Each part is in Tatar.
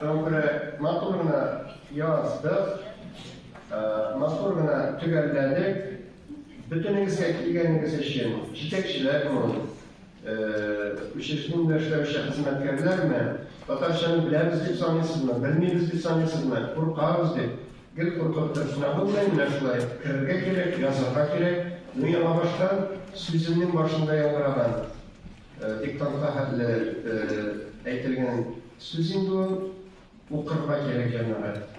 Гомре матур гына яздык, матур гына төгәлләдек. Бөтенегезгә килгәнегез өчен, җитәкчеләрме ул, учреждениедә эшләүче хезмәткәрләрме, татарчаны беләбез дип саныйсызмы, белмибез дип саныйсызмы, куркабыз дип, гел куркып торсына булмый, менә шулай керергә кирәк, язарга кирәк. Ну, яңабаштан сүземнең башында яңгыраган Диктантка хәтле әйтелгән сүз инде ул. Укырга кирәк, җәмәгать.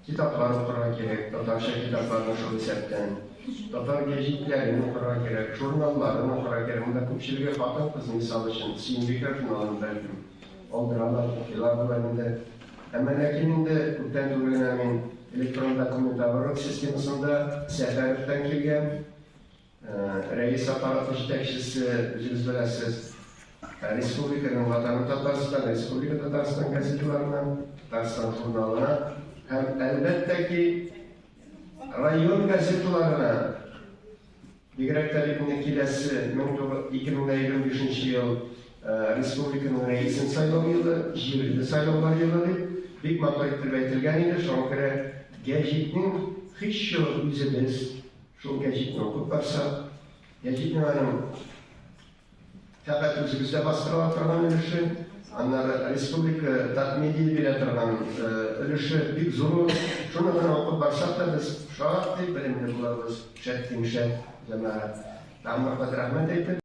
Китаплар укырга кирәк, татарча китапларны шул исәптән. Татар гәҗитләрен укырга кирәк, журналларын укырга кирәк. Монда күпчелеге хатын-кыз, мисал өчен, Сөембикә журналын, бәлкем, алдыралар, укыйлар болар инде. Әмма ләкин инде күптән түгел генә мин электрон документооборот системасында Сәфәровтан килгән Рәис аппараты җитәкчесе, үзегез беләсез, республиканың Ватаным Татарстан, Республика Татарстан газеталарына, Татарстан журналына һәм, әлбәттә ки, район газеталарына, бигрәк тә бит инде киләсе 2025 ел республиканың рәисен сайлау елы, җирле сайлаулар елы дип, бик матур итеп әйтелгән иде, шуңа күрә гәҗитнең һичьюгы үзебез, Шул гәҗитне укып барсак, гәҗитнең аның фәкать үзебездә бастырыла торган өлеше, аннары республика татмедия бирә торган өлеше бик зур. Шуны гына укып барсак та без шактый белемле булабыз. Шәт тиңшәт җәмәгать. Тагын бер кат рәхмәт әйтеп,